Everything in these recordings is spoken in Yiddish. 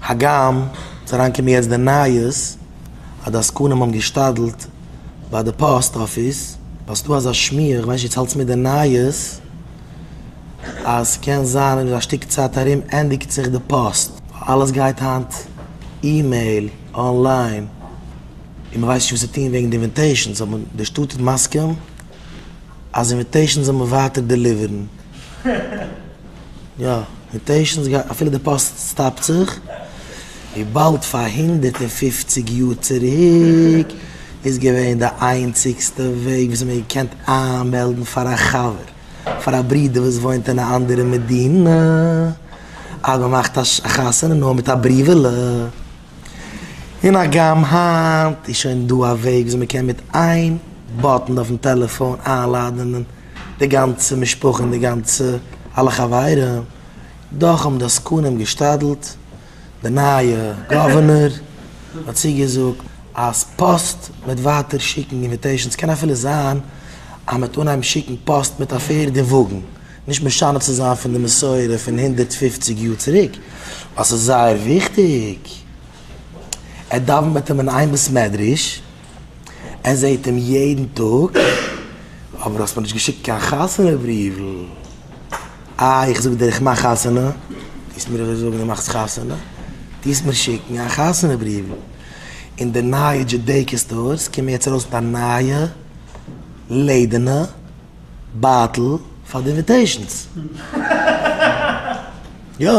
הגם ס'איז אריינגעקומען יעצט די נייעס אז די עסקנים האבן געשתדל'ט ביי די פאסט אפיס, ווייל ס'איז דא אזא שמועה, איך ווייס נישט צו האלטסט מיט די נייעס, אז קען זיין אין א שטיק צייט ארום ענדיגט זיך די פאסט, ווייל אלעס גייט היינט אימעיל, אנליין, און מען ווייסט נישט וואס צו טון וועגן די אינוויטעישאנס, אבער די שטאט איז מסכים אז אינוויטעישאנס זאל מען ווייטער דעליווערן. יא, מוטעישאנס גייט אפילו די פאסט סטאפט זיך, וויבאלד פאר הונדערט און פֿופֿציק יאר צוריק איז געווען די איינציגסטע וועג וויאזוי מען האט געקענט איינמעלדן פאר א חבר, פאר א ברודער וואס וואוינט אין א אנדערע מדינה אז מען מאכט א חתונה נאר מיט א בריוועלע, און הגם היינט איז שוין דא א וועג וויאזוי מען קען מיט איין באטן אויפן טעלעפאן איינלאדענען. די גאנצע משפחה און די גאנצע אלע חברים, דאך האבן די עסקנים געשתדלט, די נייע גאווערנער האט צוגעזאגט אז פאסט מיט ווייטער שיקן אינוויטעישאנס, ס'קען אפילו זיין אז מ'וועט אנהייבן שיקן פאסט מיט א פערד און וואגן, נישט משנה צו זיין פון די מסורה פון הונדערט פֿופֿציק יאר צוריק, ווייל ס'איז זייער וויכטיג, ער דאווענט מיט אים אין איין בית מדרש. ער זעהט אים יעדן טאג, אבער האסט מיר נישט געשיקט קיין חתונה בריוול. אה, איך זאג דיר איך מאך חתונה, טוסט מיר אזוי זאגן דו מאכסט חתונה? טוסט מיר שיקן א חתונה בריוול. אין די נייע דזשודעיקא סטארס קומען יעצט ארויס מיט א נייע לעדערנע בייטל פאר די אינוויטעישאנס. יא.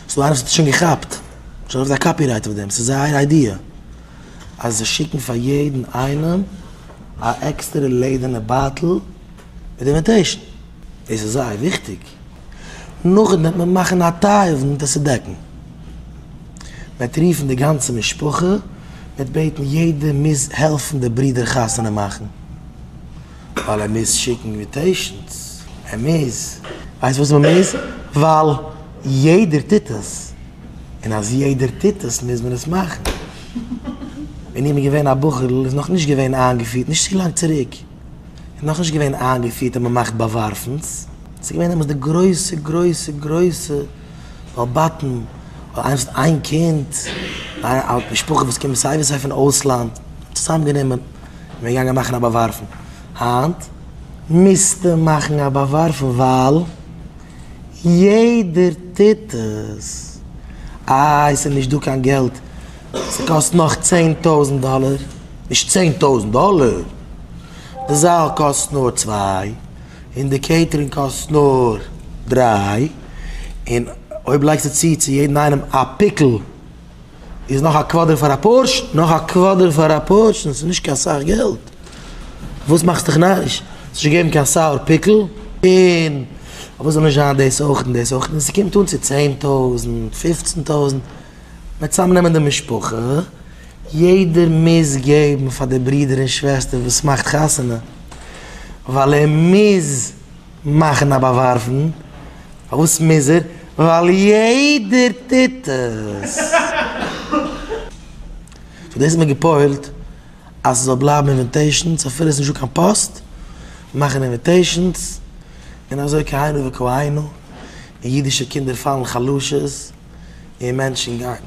ס'דא איינער וואס האט עס שוין געכאפט. שוין אויף זיין קאפירייט אויף דעם. ס'איז זייער איידיע. אז זיי שיקן פאר יעדן איינעם א עקסטערע לעדערנע בייטל מיט די אינוויטעישן, דאס איז זייער וויכטיג, נאכדעם וועט מען מאכן א טיי אויף מיט עס דעקן, מ'וועט רופן די גאנצע משפחה, מ'וועט בעטן יעדער מוז העלפן די ברודער חתונה מאכן, ווייל ער מוז שיקן אינוויטעישנס, ער מוז. ווייסט וואס מ'מוז? ווייל יעדער טוט עס. און אז יעדער טוט עס מוז מען עס מאכן. ווען איך בין געווען א בחור'ל איז נאך נישט געווען איינגעפירט, נישט צו לאנג צוריק, איז נאך נישט געווען איינגעפירט אז מען מאכט באווארפנס, ס'איז געווען דעמאלס די גרויסע גרויסע גרויסע באבאטן, אויב איינער האט איין קינד, א משפחה וואס קומט סיי ווי סיי פון אויסלאנד, צוזאם גענומען און מען איז געגאנגען מאכן א באווארפן. היינט מוזטו מאכן א באווארפן ווייל. יעדער טוט עס. איי ס'איז נישט דא קיין געלט, ס'קאסט נאך צען טויזנט דאלער. נישט צען טויזנט דאלער, די זאל קאסט נאר צוויי, און די קעיטערינג קאסט נאר דריי, און אויב לייגסטו צו צו יעדן איינעם א פיקל. איז נאך א קוואדער פאר א פארשן? נאך א קוואדער פאר א פארשן איז נישט קיין סאך געלט. וואס מאכסט דיך נאריש? ס'איז נישט געגעבן קיין סאוער פיקל, און אוואו זאל נישט זיין דאס אויך און דאס אויך, און ס'קומט אן צו צען טויזנט, פופצן טויזנט. מען וועט צוזאמנעמען די משפחה, יעדער מוז געבן פאר די ברודער און שוועסטער וואס מאכט חתונה, ווייל ער מוז. מאכן א באווארפן, פארוואס מוז ער? ווייל יעדער טוט עס. פאר דאס האט מען געפוילט אז ס'זאל בלייבן אינוויטעישאנס אפילו עס איז נישטא קיין פאסט, מאכן אינוויטעישאנס און אזוי כהנה וכהנה, און אידישע קינדער פאלן חלשות און מענטשן גיין.